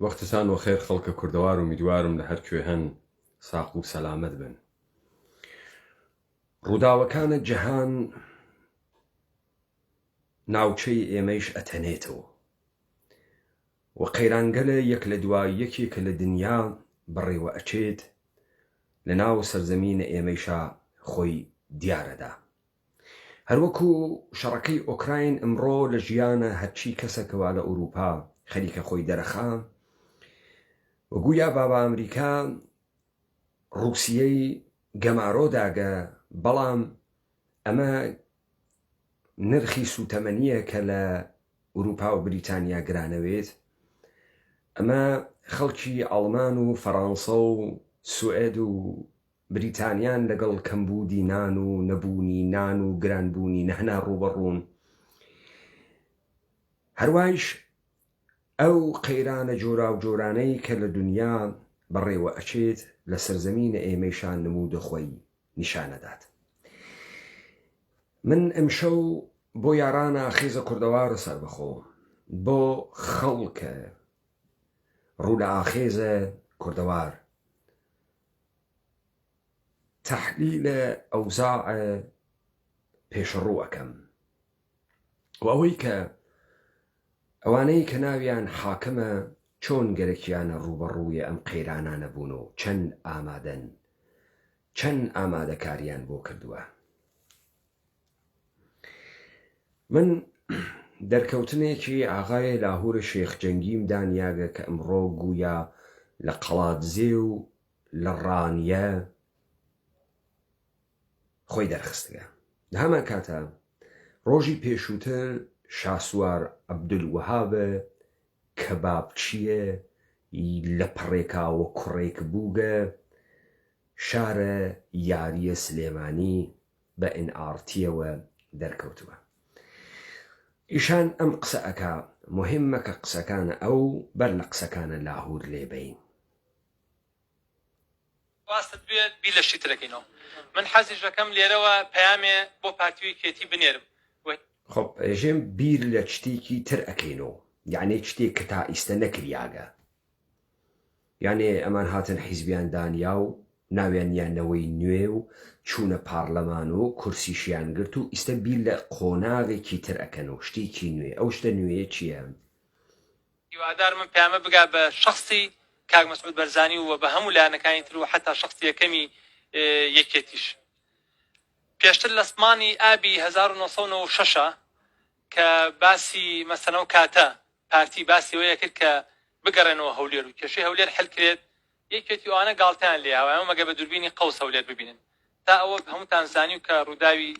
وەختتان وەخێر خەڵکە کوردەوار ئومیدوارم لە هەر کوێ هەن ساق و سەلامەت بن ڕووداوەکانە جەهان ناوچەی ئێمەیش ئەتەنێتەوە و قەیرانگەلە یەک لە دوا یەکێ کە لە دنیا بەڕێوە ئەچێت لە ناو سەرزەمینە ئێمەیشا خۆی دیارەدا هەروەکو شەڕەکەی ئۆکراین ئمڕۆ لە ژیانە هەرچی کەسەکە وا لە ئوروپا خەریکە خۆی دەرەخا و گوویا بابا ئەمریکا ڕووسیەی گەمارۆ داگە بەڵام ئەمە نرخی سووتەمەنیە کە لە ئوروپا و بریتانیا گرانەوێت ئەمە خەڵکی ئاڵمان و فەرانسە و سوئد و بریتانیان لەگەڵ کەمبوودی نان و نەبوونی نان و گرانبوونی نەهنا ڕووبەڕوون. هەروایش ئەو قەیرانە جۆراوجۆرانەی کە لە دونیا بەڕێوە ئەچێت لە سەرزەمینە ئێمەیشان نموودە خۆی نیشان ئەدات. من ئەمشەو بۆ یارانە ئاخێزە کوردەوارە سەربەخۆ بۆ خەڵکە ڕوو لە ئاخێزە کوردەوار تەحلیل ئەوزاع پێشڕوو ئەکەم و ئەوەی کە ئەوانەی کە ناویان حاکمە چۆن گەرەکیانە ڕووبەڕووی ئەم قەیرانانە بوون و چەند ئامادەن چەند ئامادەکاریان بۆ کردووە. من دەرکەوتنێکی ئاغای لاهور شێخ جەنگیم دا نیاگە کە ئمڕۆ گوویا لە قەڵادزێ و لە ڕانیە خۆی دەرخستگە. لە هەمان کاتا ڕۆژی پێشووتر شاسوار عەبدولوەهاب کەبابچیە ی لە پڕێکاوە کوڕێک بووگە شارە یاریە سلێمانی بە ئن ئاڕتیەوە دەرکەوتوە ئیشان ئەم قسە ئەکا موهیم مەکە قسەکانە ئەو بەر لە قسەکانە لاهور لێ بەین. ڕاستت بێ بیر لە شتی ترەکەینەوە من حەزیشەکەم لێرەوە پەیامێ بۆ پارتی و یەکێتی بنێرم و. خۆ ئێژێم بیر لە چتیکی تر ئەکەینۆ یەعنی چتیک کە تا ئیستە نەکریاگە. یانێ ئەمان هاتن حیزبیان دانیا و ناویان نیا نەوەی نوێ و چوونە پارلەمان و کورسیشیان گرت و ئیستە بیر لە قۆناغێکی تر ئەکەن و شتیکی نوێ، ئەو شتە نوێیە چیە؟ هیوادار من پەیامە بگا بە شەخسی کاک مەسعود بەرزانی و بە هەموو لایەنەکانی تر و حەتا شەخسی یەکەمی یەکێتیش پێشتر لە سمانی ئابی هەزار و نۆ سەد و نەوە و شەش کە باسی مەسەنەو کاتە پارتی باسی ئەوەی ئەکرد کە بگەڕێنەوە هەولێر و کێشەی هەولێر حل کرێت، یەکێتی ئەوانە گاڵتەیان لێ ئەوە مەگەر بە دوربینی قەوس هەولێر ببینن تا ئەوە هەمووتان زانیو کە ڕووداوی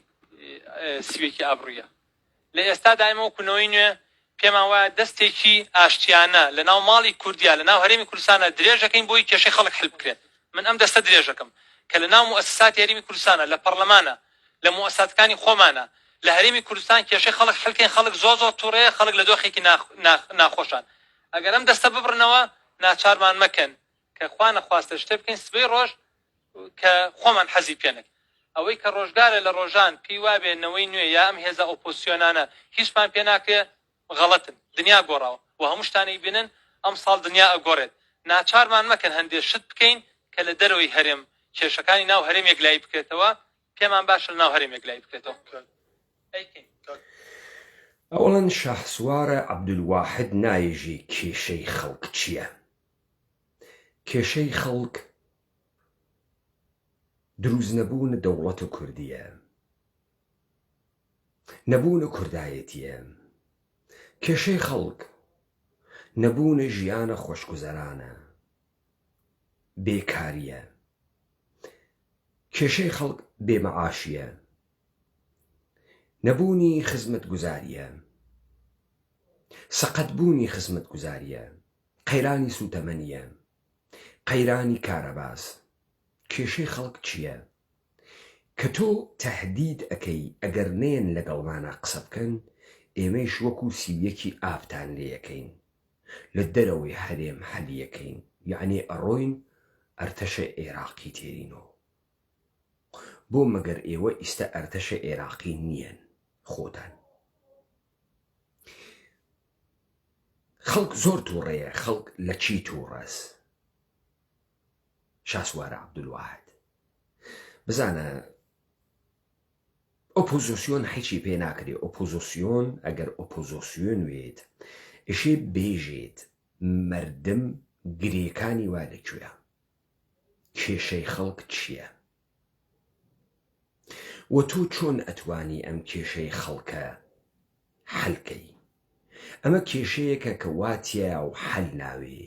سیوێکی ئابڕویە لە ئێستادا ئێمە وەکو نەوەی نوێ پێمان وایە دەستێکی ئاشتیانە لە ناو ماڵی کوردیا لە ناو هەرێمی کوردستانە درێژەکەین بۆی کێشەی خەڵک حل بکرێت من ئەم دەستە درێژەکەم کە لە ناو موسساتی هەرێمی کوردستانە لە پەڕلەمانە لە موئەسساتەکانی خۆمانە لە هەرێمی کوردستان کێشەی خەڵک حل کەین خەڵک زۆر زۆر توڕەیە خەڵک لە دۆخێکی ناخ ناخ ناخۆشان ئەگەر ئەم دەستە ببڕنەوە ناچارمان مەکەن کە خوا نەخواستە شتێ بکەین سبەی ڕۆژ کە خۆمان حەزی پێنەک ئەوەی کە ڕۆژگارە لە ڕۆژان پێی وابێ نەوەی نوێ یا ئەم هێزە ئۆپۆسیۆنانە هیچمان پێ ناکرێ غەڵەتن دنیا گۆڕاوە و هەموو شتان ئەیبینن ئەمساڵ دنیا ئەگۆڕێت ناچارمان مەکەن هەندێ شت بکەین کە لە دەرەوەی هەرێم کێشەکانی ناو هەرێم یەکلایی بکرێتەوە پێمان باشە لەناو هەرێم یەکلایی بکرێتەوە ئەیکەین. ئەوەڵێن شاهسوارە عبدالواحد نایژی کێشەی خەڵک چیە کێشەی خەڵک دروست نەبوون دەوڵەت کوردیە. نەبوونە کوردایەتییە، کێشەی خەڵک، نەبوونە ژیانە خۆشگوزەرانە، بێکارییە، کێشەی خەڵک بێ مەعاشییە، نەبوونی خزمەتگوزارییە، سەقەتبوونی خزمەتگوزارییە، قەیرانی سووتەمەنییە، قەیرانی کارەباس، کێشەی خەڵک چییە؟ کە تۆ تەهدید ئەکەی ئەگەر نەیەن لەگەڵمانا قسە بکەن ئێمەیش وەکو سی و یەکی ئابتان لێ ئەکەین لە دەرەوەی هەرێم حەلی ئەکەین یەعنی ئەڕۆین ئەرتەشە ئێراقی تێرینۆ بۆ مەگەر ئێوە ئیستە ئەرتەشە ئێراقی نیەن خۆتان خەڵک زۆر توڕەیە خەڵک لە چی توڕەس. شاسوار عبدالواحد بزانە ئۆپۆزۆسیۆن حیچی پێ ناکرێ ئۆپۆزۆسیۆن ئەگەر ئۆپۆزۆسیۆن وێت ئشێ بێژێت مردم گرێکانی وا لە کوێە کێشەی خەڵک چییە و تۆ چۆن ئەتوانی ئەم کێشەی خەڵکە حەلکەی ئەمە کێشەیەکە کە واتیە و حەل ناوێ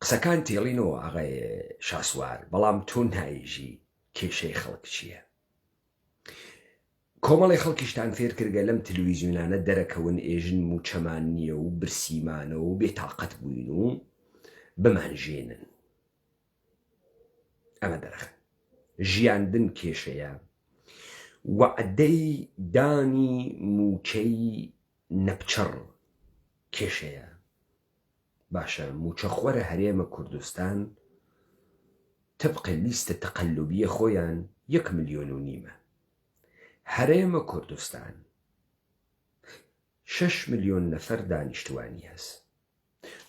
قسەکان تێڵینەوە ئاغای شاسوار بەڵام تۆ نایژی کێشەی خەڵک چییە؟ کۆمەڵی خەڵکیشتان فێر کردگە لەم تلویزیونانە دەرەکەون ئێژن موچەمان نییە و برسیمانە و بێ تاقەت بووین و بمانژێنن ئەمە دەرخن ژیاندن کێشەیە وعدەی دانی موچەی نەپچڕ کێشەیە باشە موچەخۆرە هەرێمە کوردستان تبق لیستە تقلبیە خۆیان یەک ملیۆن و نیمە هەرێمە کوردستان شەش ملیۆن نەفەر دانیشتوانی هەس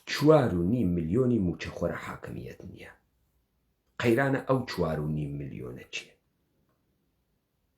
چوار و نیم ملیۆنی موچەخۆرە حاکمیت نیە قەیرانە ئەو چوار و نیم ملیۆنە چیە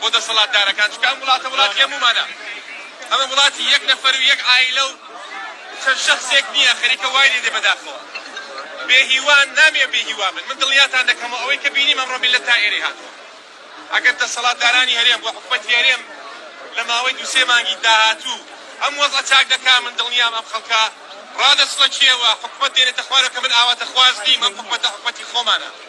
بۆ دەسەڵاتدارەکان چونکە ئەم وڵاتە وڵاتی هەموومانە ئەمە وڵاتی یەک نەفەر و یەک عائیلە و چەند شەخسێک نییە خەریکە وای لێ دێ بەداخەوە بێ هیوان نامێ بێ هیوا بن من دڵنیاتان دەکەم و ئەوەی کە بینیم ئەمڕۆ میللەت تا ئێرەی هاتووە ئەگەر دەسەڵاتدارانی هەرێم و حکومەتی هەرێم لە ماوەی دوو سێ مانگی داهاتوو ئەم وەزعە چاک دەکا من دڵنیام ئەم خەڵکە ڕادەسڵەکێ و حکومەت دێنێتە خوارەوە کە من ئاواتەخواز نیم ئەم حکومەتە حکومەتی خۆمانە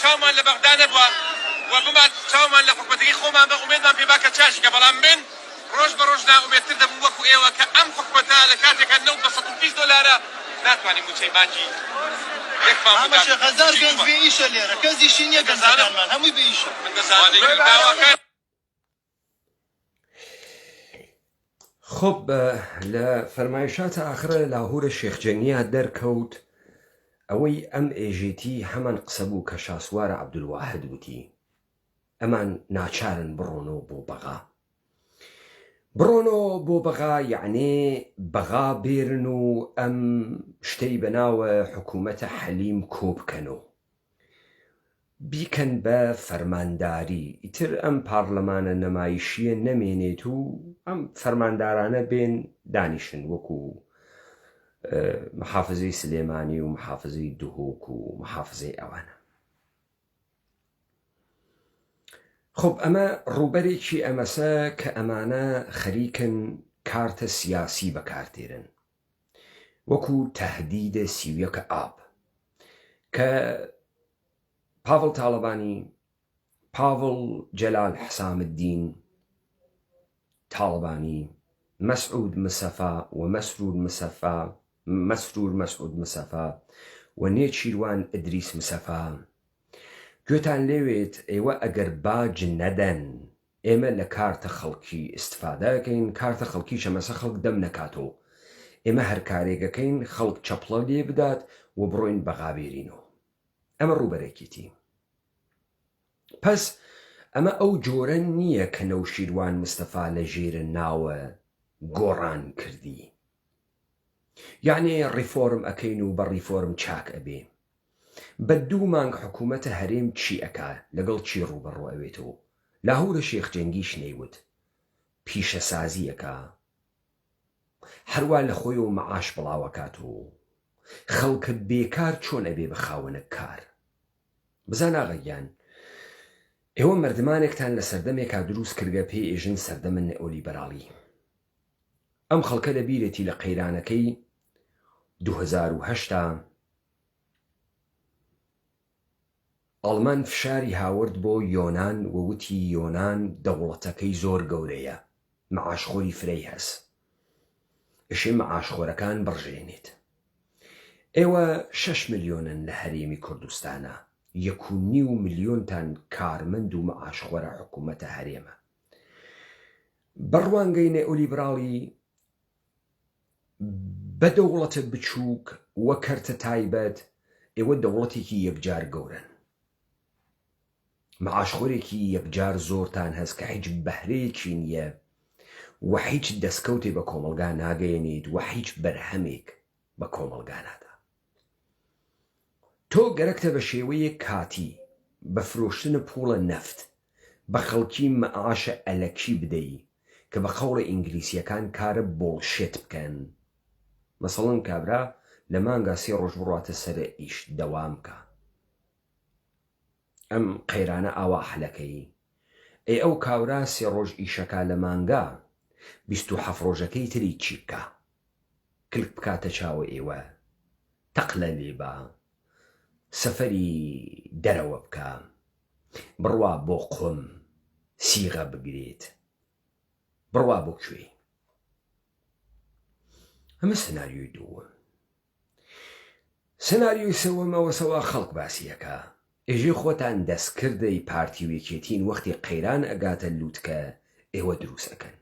چاومان لە بەغدا نەبوە و بمان چاومان لە حکومەتەکەی خۆمان بە ئومێدمان پێ با کە چاشیکە بەڵام من ڕۆژ بە ڕۆژ نائومێدتر دەبم وەکو ئێوە کە ئەم حکومەتە لە کاتێکا نەوت بە سەد و بیست دۆلارە ناتوانین موچەی مانگی یەکمان بۆ دابین کە چی گوومە. من دەزانم داواکاری خۆب لە فەرمایشاتە ئاخرە لاهورە شێخجەنگیا دەرکەوت ئەوەی ئەم ئێژێتی هەمان قسە بوو کە شاسوارە عبدواحد وتی ئەمان ناچارن بڕۆنەوە بۆ بەغا بڕۆنەوە بۆ بەغا یعنێ بەغا بێرن و ئەم شتەی بەناوە حکوومەتە حەلیم کۆبکەنەوە بیکەن بە فەرمانداری ئیتر ئەم پارلەمانە نەمایشیە نەمێنێت و ئەم فەرماندارانە بێن دانیشن وەکو محافزەی سلێمانی و محافزەی دهۆک و محافزەی ئەوانە خب ئەمە ڕووبەرێکی ئەمەسە کە ئەمانە خەریکن کارتە سیاسی بەکارتێرن وەکو تهدید سی و یەک ئاب کە پاڤڵ تاڵەبانی پاڤڵ جەلال حسام الدین تاڵەبانی مەسعود مسەفا و مەسرور مسەفا مەسرور مەسعود مسەفا و نێچیروان ئدریس مسەفا گوێتان لێوێت ئێوە ئەگەر باج نەدەن ئێمە لە کارتە خەڵکی ئیستفادە ئەکەین، کارتە خەڵکی چەمەسە خەڵک دەم نەکاتەوەو ئێمە هەر کارێک ئەکەین خەڵک چەپڵە لێ بدات و بڕۆین بەغا بێرینەوە. ئەمە ڕووبەرەکیتی. پەس ئەمە ئەو جۆرە نییە کە نەوشیروان مستەفا لە ژێرە ناوە گۆڕان کردی. یەعنی ڕیفۆرم ئەکەین و بە ڕیفۆرم چاک ئەبێ؟ بە دوو مانگ حکومەتە هەرێم چی ئەکا لەگەڵ چی ڕووبەڕوو ئەوێت و لاهورە شێخ جەنگیش نەیوت پیشەسازی ئەکا هەروا لەخۆیەوە مەعاش بڵاو ئەکات و خەڵکە بێکار چۆن ئەبێ بە خاوەنە کار؟ بزان ئاغا گیان ئێوە مەردمانێکتان لە سەردەمێکا دروست کردگە پێی ئێژن سەردەمە نئۆلیبەراڵی ئەم خەڵکە لە بیرێتی لە قەیرانەکەی دوو هەزار و هەشت ئاڵمان فشاری هاورد بۆ یۆنان و وتی یۆنان دەوڵەتەکەی زۆر گەورەیە معاشخۆری فرەی هەس ئشی معاشخۆرەکان بڕژێنێت ئێوە شەش ملیۆنن لە هەرێمی کوردستانا یەک و نیو ملیۆنتان کارمەند و معاشخۆرە حکومەتە هەرێمە بە ڕوانگەی نێئۆلیبراڵی بە دەوڵەتە بچووک و کەرتە تایبەت ئێوە دەوڵەتێکی یەکجار گەورەن معاشخۆرێکی یەکجار زۆرتان هەست کە هیچ بەهرەیەکی نییە و هیچ دەستکەوتێ بە کۆمەلگا ناگەیەنیت و هیچ بەرهەمێک بە کۆمەڵگانادا تۆ گەرەکتە بە شێوەیەک کاتی بە فرۆشتنە پووڵە نەفت بە خەڵکی مەعاشە ئەلەکی بدەی کە بە قەوڵە ئینگلیسیەکان کارە بۆڵشێت بکەن مەسەڵەن کابرا لە مانگا سێ ڕۆژ بڕاتە سەرە ئیش دەوام کا ئەم قەیرانە ئاوا حلەکەیی. ئەی ئەو کاورا سێ ڕۆژ ئیشەکا لە مانگا بیست و حەفت ڕۆژەکەی تری چی بکا کلک بکاتە چاوە ئیوە تەق لە لی با سەفەری دەرەوە بکا بڕوا بۆ قوم سیغە بگریت بڕوا بۆ کوێی ئەمە سناریۆی دووم. سناریۆی سەوەم ئەوە سەوا خەڵک باسی ئەکا ئێژێ خۆتان دەست کردەی پارتی و یەکێتین وەختی قەیران ئەگاتە لوتکە ئێوە دروست ئەکەن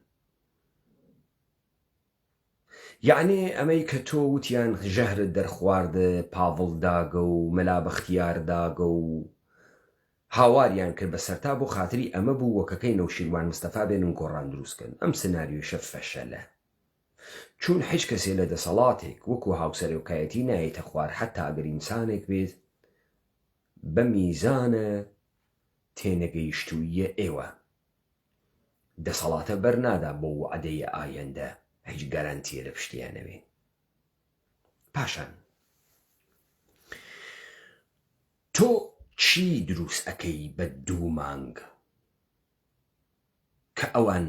یەعنی ئەمەی کە تۆ وتیان ژەهرت دەرخوارد پاڤڵ داگە و مەلا بەختیار داگە و هاواریان کرد بە سەرتا بۆ خاتری ئەمە بوو وەکەکەی نەوشیروان مستەفا بێنن گۆڕان دروست کەن ئەم سناریۆشە فەشەلە. چون حیچ کەسێ لە دەسەڵاتێک وەکو هاوسەرۆکایەتی نایەتە خوار حەتا ئەگەر ئینسانێک بێت بە میزانە تێنەگەیشتووییە ئێوە دەسەڵاتە بەر نادا بۆ وەعدەی ئایەندە هیچ گەرەنتیە لە پشتیا نەبێ پاشان تۆ چی دروست ئەکەی بە دوو مانگ؟ کە ئەوان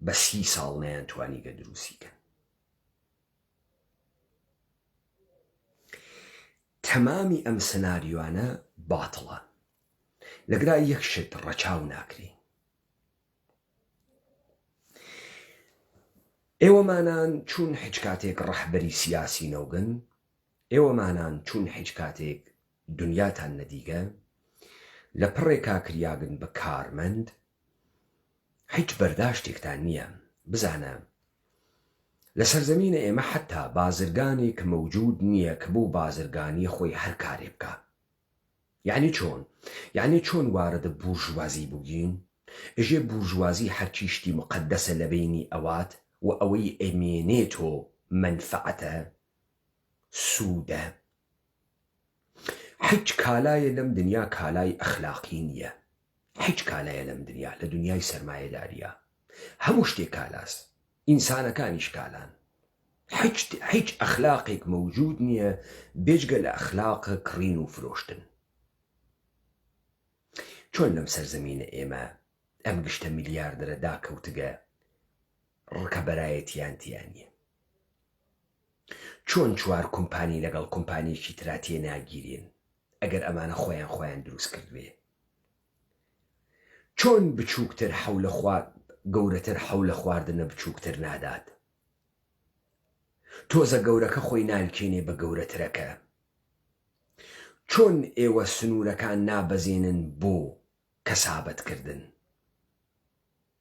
بە سی ساڵ نەیان توانیگە دروستی کەن تەمامی ئەم سناریۆانە باتڵە لەگرا یەک شت ڕەچاو ناکرێ ئێوەمانان چون حچ کاتێک ڕەحبەری سیاسی نەوگن ئێوە مانان چون حیچ کاتێک دنیاتان نەدیگە لە پڕێ کاکریاگن بە کارمەند حیچ بەرداشتێکتان نیە بزانە لە سەرزەمینە ئێمە حەتا بازرگانێک مەوجود نیە کە بۆ بازرگانی خۆی هەر کارێ بکا یەعنی چۆن یەعنی چۆن وارەدە بورژوازی بوگین ئژێ بورژوازی هەرچی شتی مقەدەسە لە بەینی ئەوات و ئەوەی ئەمێنێ تۆ مەنفەعەتە سودە حیچ کالایە لەم دنیا کالای ئەخلاقی نیە حیچ کالایە لەم دنیا لە دنیای سەرمایە داریا هەموو شتێ کالاس ئینسانەکانیش کالان حیچ حیچ ئەخلاقێک مەوجود نیە بێجگە لە ئەخلاق کڕین و فرۆشتن چۆن لەم سەر زەمینە ئێمە ئەم گشتە ملیاردەرە داکەوتگە ڕکەبەرایەتیان تیانە چۆن چوار کومپانی لەگەڵ کومپانیەکی ترا تێناگیرێن ئەگەر ئەمانە خۆیان خۆیان دروست کردبێ چۆن بچوکتر حەو لە خوار گەورەتر حەو لە خواردنە بچوکتر نادات تۆزە گەورەکە خۆی نالکێنێ بە گەورەترەکە چۆن ئێوە سنورەکان نابەزێنن بۆ کەسابەت کردن.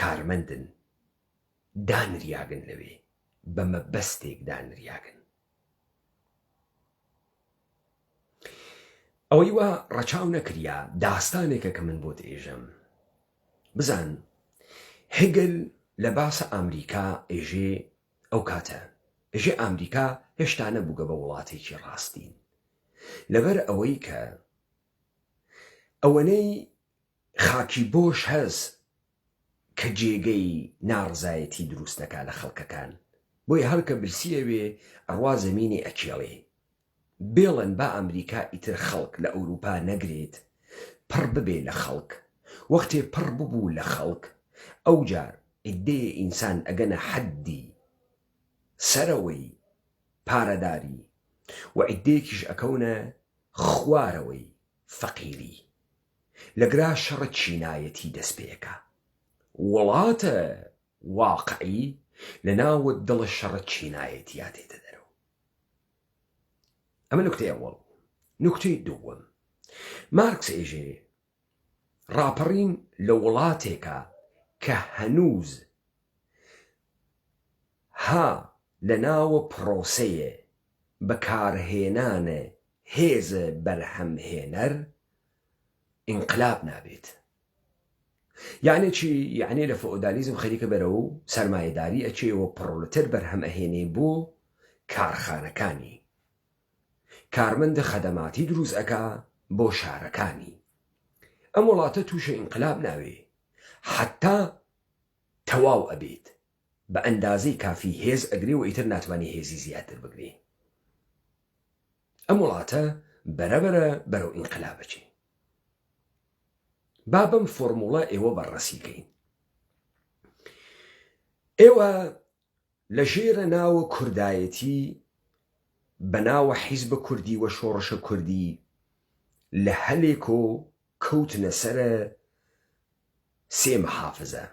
کارمەندن دانریاگن لەوێ بە مە بەستێک دانریاگن ئەوەی وا ڕەچاو نەکریا داستانێکە کە من بۆت ئێژەم بزان هگل لە باسە ئامریکا ئێژێ ئەو کاتە ئێژێ ئامریکا هێشتا نەبووگە بە وڵاتێکی ڕاستین لەبەر ئەوەی کە ئەوەنەی خاکی بۆش هەس کە جێگەی ناڕزایەتی دروست دەکا لە خەڵکەکان بۆیە هەر کە برسی ئەوێ ئەڕوا زەمینی ئەکێڵێ بێڵن با ئەمریکا ئیتر خەڵک لە ئەوروپا نەگرێت پڕ ببێ لە خەڵک وەختێ پڕ ببوو لە خەڵک ئەوجار ئیدێ ئینسان ئەگەنە حەددی سەرەوەی پارەداری و ئیدێکیش ئەکەونە خوارەوەی فەقیری. لەگرا شەڕە چینایەتی دەست پێکا وڵاتە واقعی لە ناوە دڵە شەڕە چینایەتیا دێتە دەرەوە ئەمە نکتەی ئەوەڵ نکتەی دووەم مارکس ئێژێ ڕاپەڕین لە وڵاتێکە کە هەنووز ها لە ناوە پڕۆسەیە بەکارهێنانە هێز بەرهەم هێنەر ئینقلاب نابێت یەعنی چی یەعنی لە فئۆدالیزم خەریکە بەرەو سەرمایەداری ئەچێ و پڕۆلتەر بەرهەم ئەهێنێ بۆ کارخانەکانی کارمەندە خەدەماتی دروست ئەکا بۆ شارەکانی ئەم وڵاتە توشی ئینقلاب ناوێ حەتا تەواو ئەبێت بە ئەندازەی کافی هێز ئەگرێ و ئیتر ناتوانێ هێزی زیاتر بگرێ ئەم وڵاتە بەرەبەرە بەرەو ئینقلاب ئەچێ با بەم فۆرموڵە ئێوە بەڕەسی کەین ئێوە لە ژێرە ناوە کوردایەتی بە ناوە حیزبە کوردی وە شۆڕشە کوردی لە هەلێک و کەوتنە سەر سێ محافزە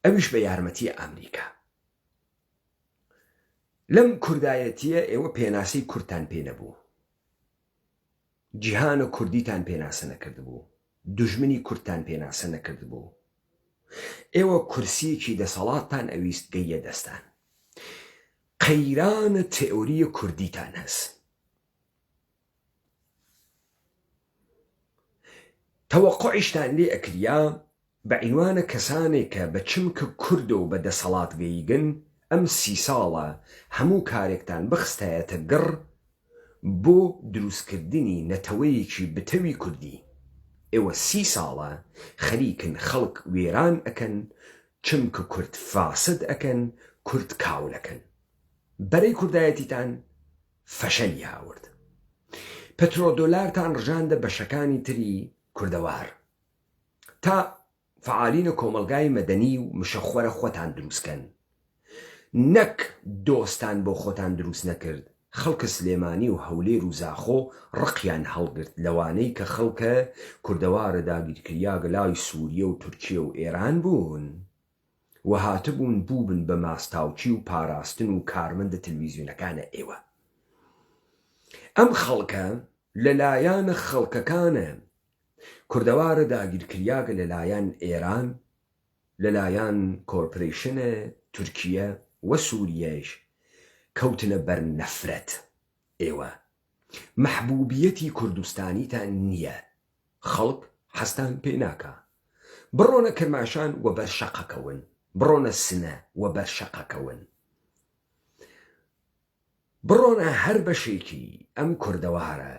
ئەویش بە یارمەتی ئامریکا لەم کوردایەتیە ئێوە پێناسەی کورتان پێ نەبوو جیهان و کوردیتان پێناسە نەکردبوو دژمنی کورتان پێناسە نەکردبوو ئێوە کورسیەکی دەسەڵاتتان ئەویست گەیە دەستان قەیرانە تئوریە کوردیتان هەست تەوەقوعیشتان لێ ئەکریا بە عینوانە کەسانێ کە بە چمکە کوردە و بە دەسەڵات گەیگن ئەم سی ساڵە هەموو کارێکتان بخستایەتە گڕ بۆ دروست کردنی نەتەوەیەکی بتەوی کوردی ئێوە سی ساڵە خەریکن خەڵک وێران ئەکەن چمکە کورد فاسد ئەکەن کورد کاول ئەکەن بەرەی کوردایەتیتان فشەلی هاورد پترۆدۆلارتان رژاندە بەشەکانی تری کوردەوار تا فعالینە کۆمەلگای مەدەنی و مشەخۆرە خۆتان دروست کەن نەک دۆستان بۆ خۆتان دروست نەکرد خەلکە سلێمانی و هەولێر و زاخۆ رقیان هەلگرت لەوانەی کە خەلکە کوردەوارە داگیرکریاگە لای سوریە و تورکیە و ئێران بوون و هاتبوون بووبن بە ماستاوچی و پاراستن و کارمەندە تلویزیونەکانە ئێوە ئەم خەڵکە لە لایان خەڵکەکانە کوردەوارە داگیرکریاگە لە لایان ئێران لە لایان کۆرپرەیشنە تورکیە و سوریەش کەوتنە بەر نەفرەت ئێوە مەحبوبیەتی کوردستانیتان نیە خەڵک حەزتان پێ ناکا بڕۆنە کرماشان و بەر شەقەکەون، بڕۆنە سنە و بەر شەقەکەون، بڕۆنە هەر بەشێکی ئەم کوردەوارە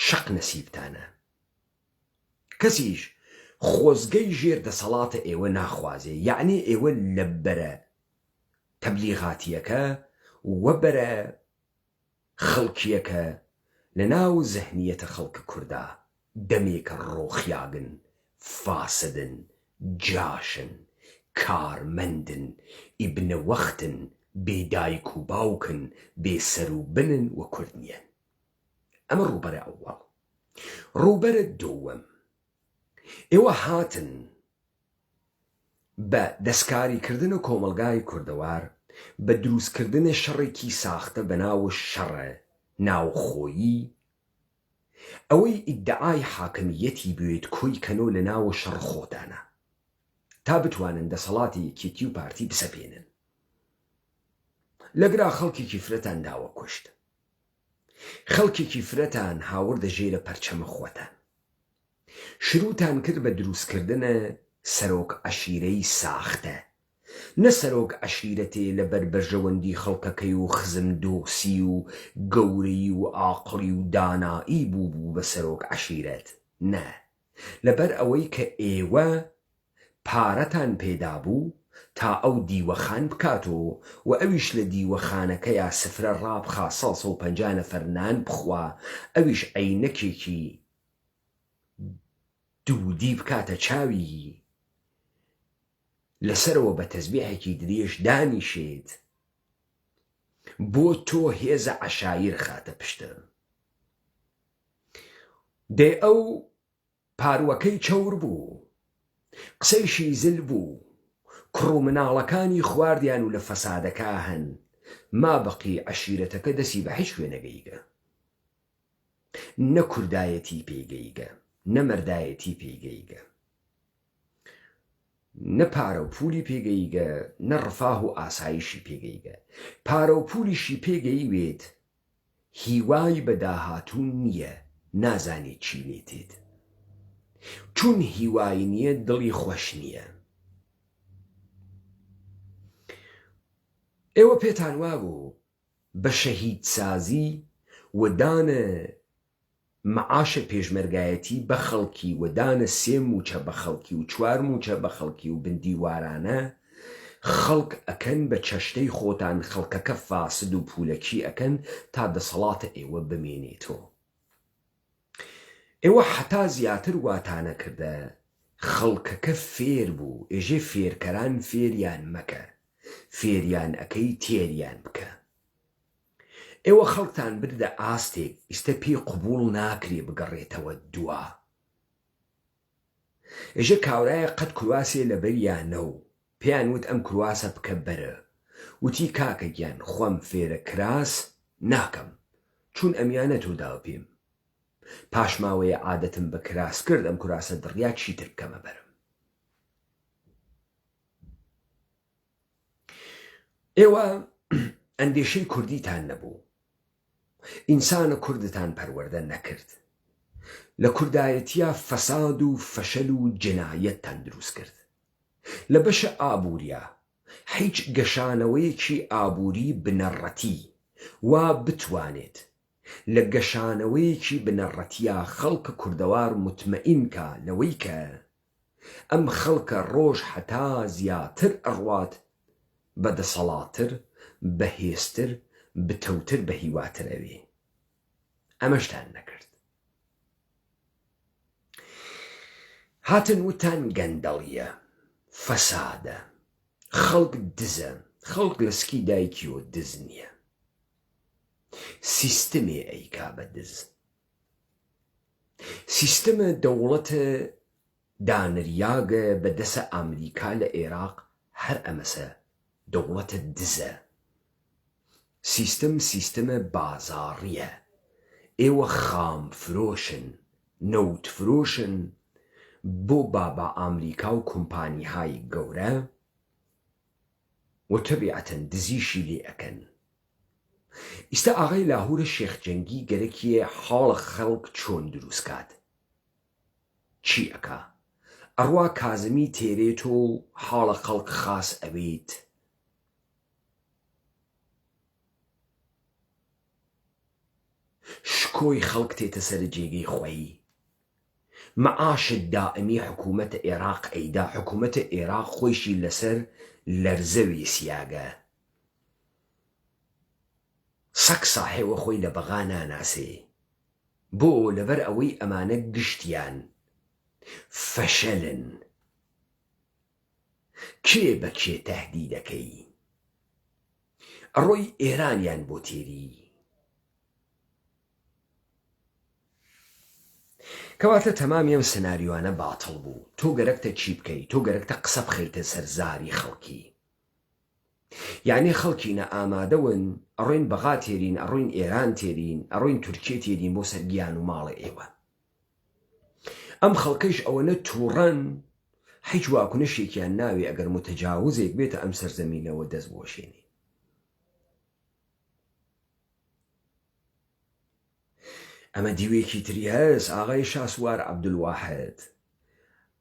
شەق نەسیبتانە. کەسیش خۆزگەی ژێر دەسەڵاتە ئێوە ناخوازێ، یەعنی ئێوە لە بەرە تەبلیغاتییەکە و بەرە خەڵکیەکە لە ناو زهنیەتە خەڵکە کوردا دەمێکە ڕۆخیاگن فاسدن جاشن کارمەندن ئیبنە وەختن بێ دایک و باوکن بێ سەر و بنن وە کورد نیەن ئەمە ڕوبەرە ئەوەڵ ڕوبەرە دووەم ئێوە هاتن بە دەسکاریکردنە کۆمەڵگای کوردەوار بە دروستکردنە شەڕێکی ساختە بە ناو شەڕە ناوخۆیی ئەوەی ئیدعای حاکمییەتی بوێت کۆی کەنۆ لە ناو شەڕ خۆتانە تا بتوانن دەسەڵاتی یەکێتی و پارتی بسەپێنن لەگرا خەڵکێکی فرەتان داوە کوشت خەڵکێکی فرەتان هاوردە ژێرە پەرچەمە خۆتان. شروتان کرد بە دروست کردنە سەرۆک عەشیرەی ساختە نە سەرۆک عەشیرەتێ لە بەر بەرژەوەندی خەڵکەکەی و خزم دۆسی و گەورەی و ئاقڵی و دانائی بوو بوو بە سەرۆک عەشیرەت نە لە بەر ئەوەی کە ئێوە پارەتان پێ دابوو تا ئەو دیوەخان بکاتۆ و ئەویش لە دیوەخانەکەیا سفرە ڕابخا سەد و پەنجا نەفەر نان بخوا ئەویش عەینەکێکی دوودی بکاتە چاوی لە سەرەوە بە تەزبێحێکی درێژ دانیشێت بۆ تۆ هێزە عەشایر خاتە پشتە دێ ئەو پاروەکەی چەور بوو قسەیشی زل بوو کوڕ و مناڵەکانی خواردیان و لە فەسادەکە هەن ما بەقی عەشیرەتەکە دەسی بە هیچ کوێ نەگەیگە نە کوردایەتی پێی گەیگە نە مەردایەتی پێی گەیگە نە پارە و پولی پێ گەیگە نە ڕفاه و ئاسایشی پێ گەیگە پارە و پولیشی پێ گەیوێت هیوای بە داهاتوو نییە نازانێت چی لێ تێت چون هیوای نییە دڵی خۆش نییە ئێوە پێتان وابوو بە شەهید سازی و دانە معاشە پێشمەرگایەتی بە خەڵکی و دانە سێ موچە بە خەڵکی و چوار موچە بە خەڵکی و بندیوارانە خەڵک ئەکەن بە چەشتەی خۆتان خەڵکەکە فاسد و پولەکی ئەکەن تا دەسەڵاتە ئێوە بمێنێتۆ. ئێوە حەتا زیاتر واتانە کردە خەڵکەکە فێر بوو ئێژێ فێرکەران فێریان مەکە فێریان ئەکەی تێریان بکە ئێوە خەڵکتان بردە ئاستێک ئیستە پێی قوبوڵ ناکرێ بگەڕێتەوە دوا ئێژێ کاورایە قەت کورواسێ لەبەریانە و پێیان وت ئەم کرواسە بکە بەرە وتی کاکە گیان خۆم فێرە کراس ناکەم چون ئەمیانە تۆ داوە پیم پاش ماوەیە عادەتم بە کراس کرد ئەم کراسە دڕیا چیتر بکەمە بەرم ئێوە ئەندێشەی کوردیتان نەبوو ئینسانە کوردتان پەروەردە نەکرد لە کوردایەتیا فەساد و فەشەل و جنایەتتان دروست کرد لە بەشە ئابوریا حیچ گەشانەوەیەکی ئابوری بنەڕەتی وا بتوانێت لە گەشانەوەیەکی بنەڕەتیا خەڵک کوردەوار متمئین کا لەوەی کە ئەم خەڵکە ڕۆژ هەتا زیاتر ئەڕوات بە دەسەڵاتتر بە هێزتر بتەوتر بە هیواتر ئەوێ ئەمەشتان نەکرد هاتن وتان گەندەڵیە فەسادە خەڵک دزە خەڵک لە سکی دایکیەوە دز نییە سیستمێ ئەیکا بە دز سیستمە دەوڵەتە دانریاگە بە دەسە ئامریکا لە ئێراق هەر ئەمەسە دەوڵەتە دزە سیستم سیستمە بازاڕیە ئێوە خام فرۆشن نەوت فرۆشن بۆ بابا ئامریکا و کومپانیهای گەورە و تەبیعەتەن دزیشی لێ ئەکەن ئیستا ئاغای لاهورە شێخ جەنگی گەرەکیە حاڵە خەڵک چۆن دروست کات چی ئەکا ئەڕوا کازمی تێرێ تۆ حاڵە خەڵک خاس ئەبیت شکۆی خەڵک تێتە سەرە جێگەی خوەی معاشت دائەمی حکومەتە ئێراق ئەیدا حکومەتە ئێراق خۆیشی لەسەر لەرزە ویسیاگە سەگ ساحێوە خۆی لە بەغا ناناسێ بۆ لەبەر ئەوەی ئەمانە گشتیان فەشەلن کێ بە کێ تەهدی دەکەی ئەڕۆی ئێران یان بۆ تێری کەواتە تەمامی ئەم سناریۆانە باتڵ بوو تۆ گەرەکتە چی بکەی تۆ گەرەکتە قسە بخەیتە سەر زاری خەڵکی یەعنی خەڵکینە ئامادە ون ئەڕۆین بەغا تێرین ئەڕۆین ئێران تێرین ئەڕۆین تورکیە تێرین بۆ سەر گیان و ماڵێ ئێوە ئەم خەڵکەیش ئەوەنە توڕەن حیچ واکنشێکیان ناوێ ئەگەر موتەجاوزێک بێتە ئەم سەر زەمینەوە دەست بۆشێنێ ئەمە دیوێکی تری هەس ئاغای شاسوار عبدالواحد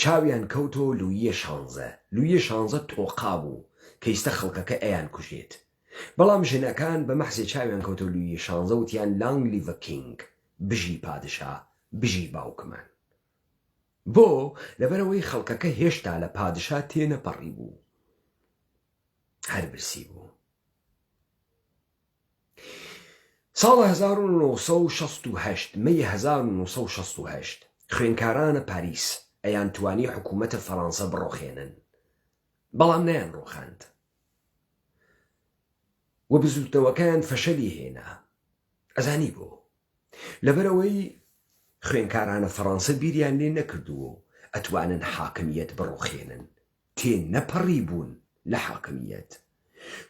چاویان کەوتۆ لوییە شانزە لوییە شانزە تۆقا بوو کەیستە خەڵکەکە ئەیان کوژێت بەڵام ژنەکان بە مەحزێ چاویان کەوتۆ لوییە شانزە وتیان لانگ لیڤە کینگ بژی پادشا بژی باوکمان بۆ لەبەرەوەی خەڵکەکە هێشتا لە پادشا تێنەپەڕیبوو هەر برسی بوو. ساڵ هەزار و نۆ سەد و شەست و هەشت، مەی هەزار و نۆ سەد و شەست و هەشت، خوێنکارانە پاریس ئەیان توانی حکوومەتە فەرانسە بڕۆخێنن بەڵام نەیان ڕۆخاند و بزووتنەوەکەیان فەشەلی هێنا ئەزانی بۆ لەبەرەوەی خوێنکارانە فەرانسە بیریان لێ نەکردووە و ئەتوانن حاکمیت بڕۆخێنن تێنەپەڕیبوون لە حاکمییەت،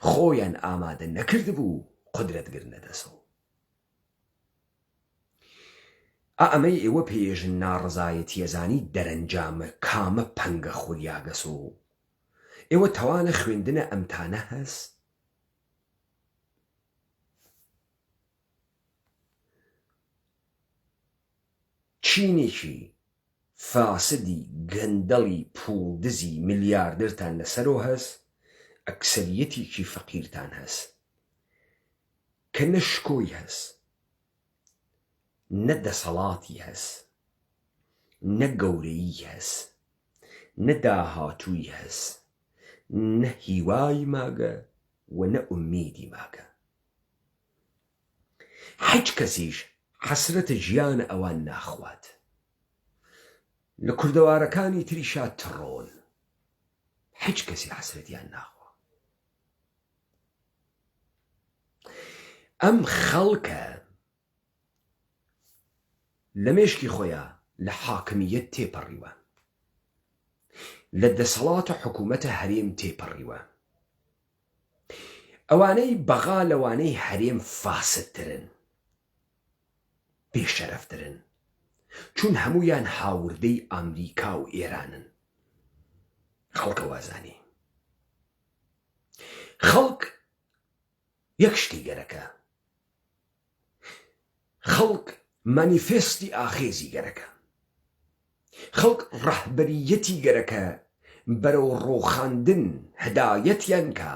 خۆیان ئامادە نەکردبوو قودرەت گرنە دەست و ئا ئەمەی ئێوە پێیێژن ناڕەزایەتییە زانی دەرەنجامە کامە پەنگە خولیاگەس و ئێوە تەوانە خوێندنە ئەمتانە هەس؟ چینێکی فاسدی گەندەڵی پوڵ دزی ملیاردرتان لەسەرۆ هەس ئەکسەریەتیکی فەقیرتان هەس کە نە شکۆی هەس نە دەسەڵاتی هەس نە گەورەیی هەس نە داهاتووی هەس نە هیوای ماگە و نە ئومیدی ماگە. هیچ کەسیش حەسرەتە ژیان ئەوان ناخوات لە کوردەوارەکانی تریشا تڕۆن هیچ کەسی حەسرەتیان ناخوا ئەم خەڵکە لە مێشکی خۆیا لە حاکمیت تێپەڕیوە لە دەسەڵاتە حکوومەتە هەرێم تێپەڕیوە ئەوانەی بەغا لەوانەی هەرێم فاسدترن بێ شەرەفترن چون هەموویان هاوردەی ئامریکا و ئێرانن خەڵکە وازانی خەڵک یەک شتی گەرەکە خەڵک مانیفێستی ئاخێزی گەرەکە، خەڵک ڕەهبەرییەتی گەرەکە بەرەو ڕووخاندن هەدایەتیان کا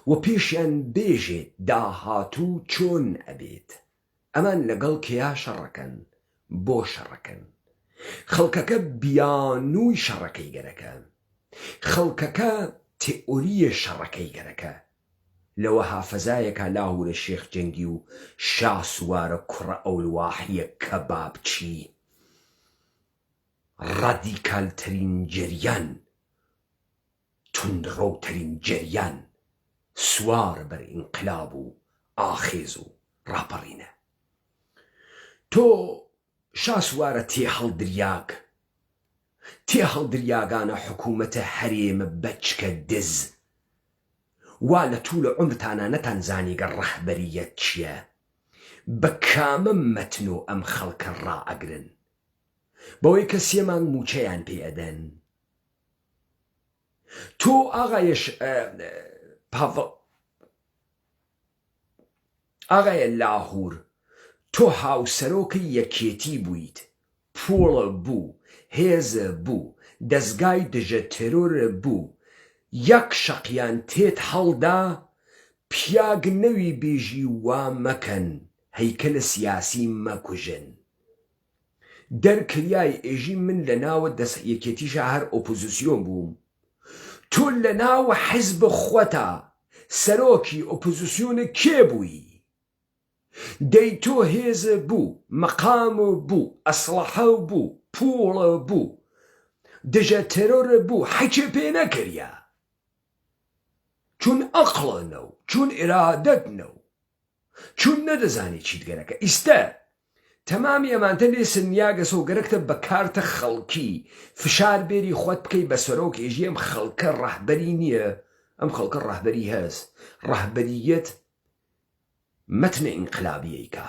و پێشیان بێژێت داهاتوو چۆن ئەبێت، ئەمان لەگەڵ کێا شەڕەکەن، بۆ شەڕەکەن؟ خەڵکەکە بیانووی شەڕەکەی گەرەکە، خەڵکەکە تێئۆرییە شەڕەکەی گەرەکە، لە وەها فەزایەکا لاهورە شێخ جەنگی و شاسوارە کوڕە ئەولواحیە کەبابچی ڕادیکال ترین جەریان توندڕەو ترین جەریان سوارە بەر ئینقلاب و ئاخێز و ڕاپەڕینە تۆ شاسوارە تێهەڵدریاگ تێهەڵدریاگانە حکوومەتە هەرێمە بەچکە دز وا لە توولە عومرتانا نەتان زانیگە ڕەهبەرییەت چیە بە کامە مەتنۆ ئەم خەڵکە ڕا ئەگرن بەوەی کە سێ مانگ مووچەیان پێ ئەدەن تۆ ئاغایش پاڤڵ ئاغای لاهور تۆ هاوسەرۆکەی یەکێتی بوویت پووڵ بوو هێز بوو دەزگای دژە تێرۆر بوو یەک شەقیان تێت هەڵدا پیاگ نەوی بیژی وا مەکەن هەیکەلە سیاسی مەکوژن. دەر کریای ئێژی من لە ناوە دەس یەکێتیشا هەر ئۆپۆزسیۆن بووم تۆ لە ناو حزب خوەتا سەرۆکی ئۆپۆزسیۆنە کێ بووی دەی تۆ هێز بوو مەقام بوو ئەسڵەحە بوو پووڵ بوو دژە تێرۆر بوو حەکێ پێ نەکریا چون ئەقڵە نەو چون ئیرادەت نەو چون نەدەزانی چیت گەرەکە ئیستە تەمامی ئەمانتە لێ سنیاگەسە و گەرەکتە بە کارتە خەڵکی فشار بێری خوەت بکەی بە سەرۆک ئێژی ئەم خەڵکە ڕەهبەری نیە ئەم خەڵکە ڕەهبەری هەس ڕەهبەریەت مەتنە ئینقلابیەی کا.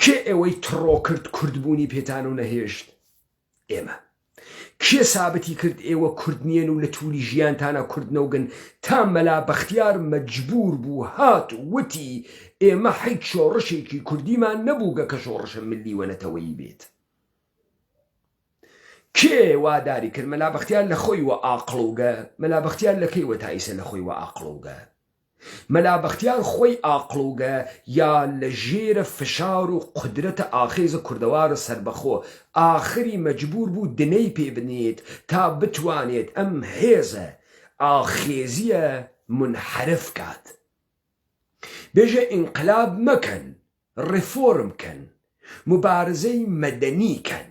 کێ ئێوەی تڕۆ کرد کورد بوونی پێتانو نەهێشت؟ ئێمە. کێ سابتی کرد ئێوە کورد نیەن و لە تووری ژیانتانا کورد نەوگن تا مەلا بەختیار مەجبوور بوو هات ووتی ئێمە حیچ شۆڕشێکی کوردیمان نەبووگە کە شۆڕشە ملی وە نەتەوەیی بێت؟ کێ وا داری کرد مەلا بەختیار لە خۆی وە ئاقڵوگە؟ مەلا بەختیار لە کەی وە تا ئیسە لە خۆی وە ئاقڵوگە؟ مەلا بەختیار خۆی ئاقڵوگە یا لە ژێرە فشار و قودرەتە ئاخێزە کوردەوارە سەربەخۆ ئاخری مەجبوور بوو دنەی پێ بنێت تا بتوانێت ئەم هێزە ئاخێزیە مونحەرف کات. بێژە ئینقلاب مەکەن، ڕێفۆرم کەن، موبارزەی مەدەنی کەن.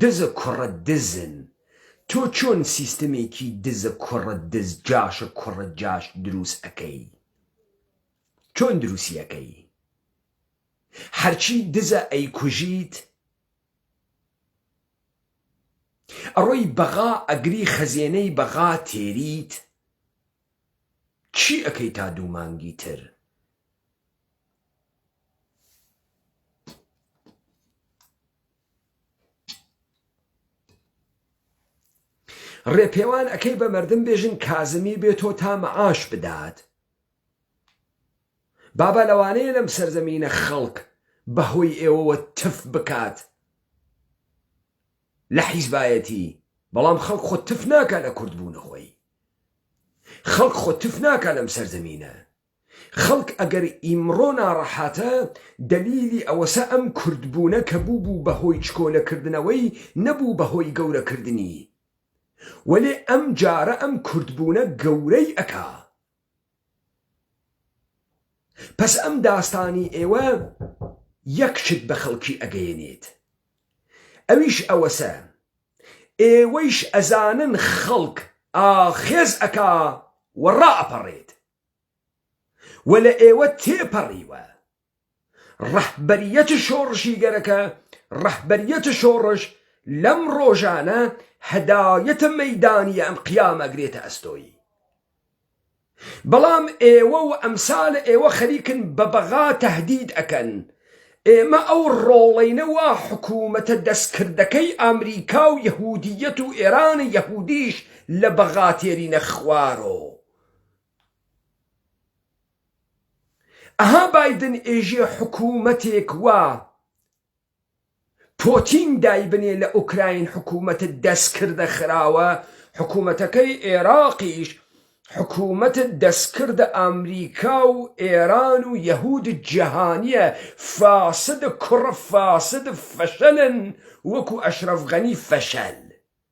دزە کوڕە دزن تۆ چۆن سیستەمێکی دزە کوڕە دز جاشە کوڕە جاش دروست ئەکەی چۆن دروستی ئەکەی هەرچی دزە ئەیکوژیت ئەڕۆی بەغا ئەگری خەزێنەی بەغا تێریت چی ئەکەی تا دوو مانگی تر ڕێپێوان ئەکەی بە مردم بێژن کازمی بێ تۆ تا مەعاش بدات بابا لەوانەیە لەم سەرزەمینە خەڵک بەهۆی ئێوەوە تف بکات لە حیزبایەتی بەڵام خەڵک خۆ تف ناکە لە کورد بوونە خۆی خەڵک خۆ تف ناکە لەم سەرزەمینە خەڵک ئەگەر ئیمڕۆ ناڕەحاتە دەلیلی ئەوەسە ئەم کورد بوونە کە بووبوو بە هۆی چکۆلە کردنەوەی نەبوو بە هۆی گەورە کردنی وەلێ ئەم جارە ئەم کورد بوونە گەورەی ئەکا پەس ئەم داستانی ئێوە یەک شت بە خەڵکی ئەگەیەنێت ئەویش ئەوەسە ئێوەیش ئەزانن خەڵک ئاخێز ئەکا و ڕائەپەڕێت. و لە ئێوە تێپەڕیوە. ڕەهبەریەت شۆڕشیگەرەکە، ڕەهبەریەت شۆڕش لەم ڕۆژانە هەدایەتە مەیدانیە ئەم قیامە گرێتە ئەستۆی. بەڵام ئێوە و ئەمسالە ئێوە خەریکن بە بەغا تەهدید ئەکەن. ئێمە ئەو ڕۆڵەینە وا حکومەتە دەستکردەکەی ئامریکا و یەهودیەت و ئێرانە یەهودیش لە بەغا تێرینە خوارۆ. ئەها بایدن ئێژێ حکومەتێک وا پۆتین دایبنێ لە ئۆکراین حکومەتت دەست کردە خراوە حکومەتەکەی ئێراقیش حکومەتت دەست کردە ئامریکا و ئێران و یەهود جەهانیە فاسد کوڕە فاسد فەشەلن وەکو ئەشرەف غەنی فەشەل.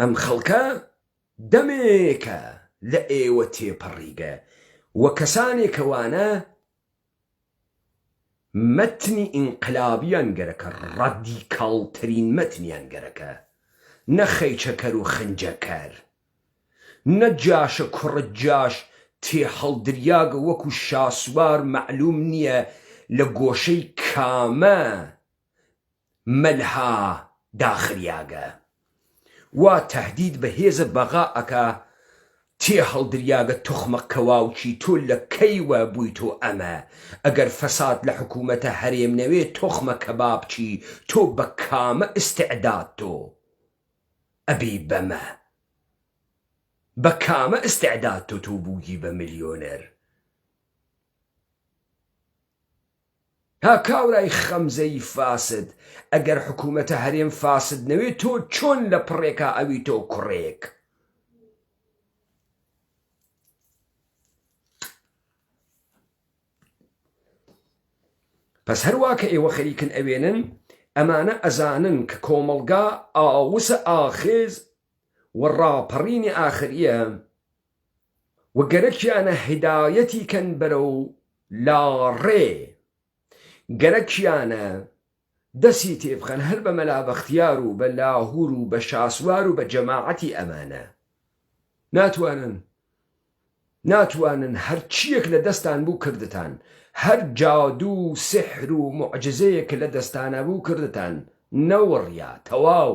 ئەم خەڵکە دەمێکە لە ئێوە تێپەڕیگە و کەسانێکە وانە مەتنی ئینقلابیان گەرەکە ڕادیکاڵترین مەتنیان گەرەکە نە خەیچەکەر و خنجەکەر نە جاشە کوڕە جاش تێهەڵدریاگە وەکو شاسوار مەعلوم نییە لە گۆشەی کامە مەلها داخریاگە وا تەهدید بە هێزە بەغا ئەکا تێ هەڵدریاگە توخمە کەواوکی تۆ لە کەی وە بویتۆ ئەمە ئەگەر فەساد لە حکومەتە هەرێم نەوێ توخمە کەبابچی تۆ بە کامە ئستعداد تۆ ئەبی بەمە بە کامە ئستعداد تۆ تۆ بوگی بە ملیۆنەر. ها کابرای خەمزەی فاسد ئەگەر حکومەتە هەرێم فاسد نەوێ تۆ چۆن لە پڕێکا ئەویتۆ کوڕێک. پس هەروا کە ئێوە خەریکن ئەوێنن ئەمانە ئەزانن کە کۆمەڵگا ئاوسە ئاخێز و ڕاپەڕینی ئاخر یە، و گەرەکیانە هیدایەتی کەن بەرەو لا ڕێ گەرەکیانە دەسی تێ بخەن هەر بە مەلا بەختیار و بە لاهور و بە شاسوار و بە جەماعەتی ئەمانە ناتوانن ناتوانن هەرچیەک لە دەستان بوو کردتان هەر جادو و سحر و موعجزەیەک کە لە دەستانا بوو کردتان نەوەڕیا تەواو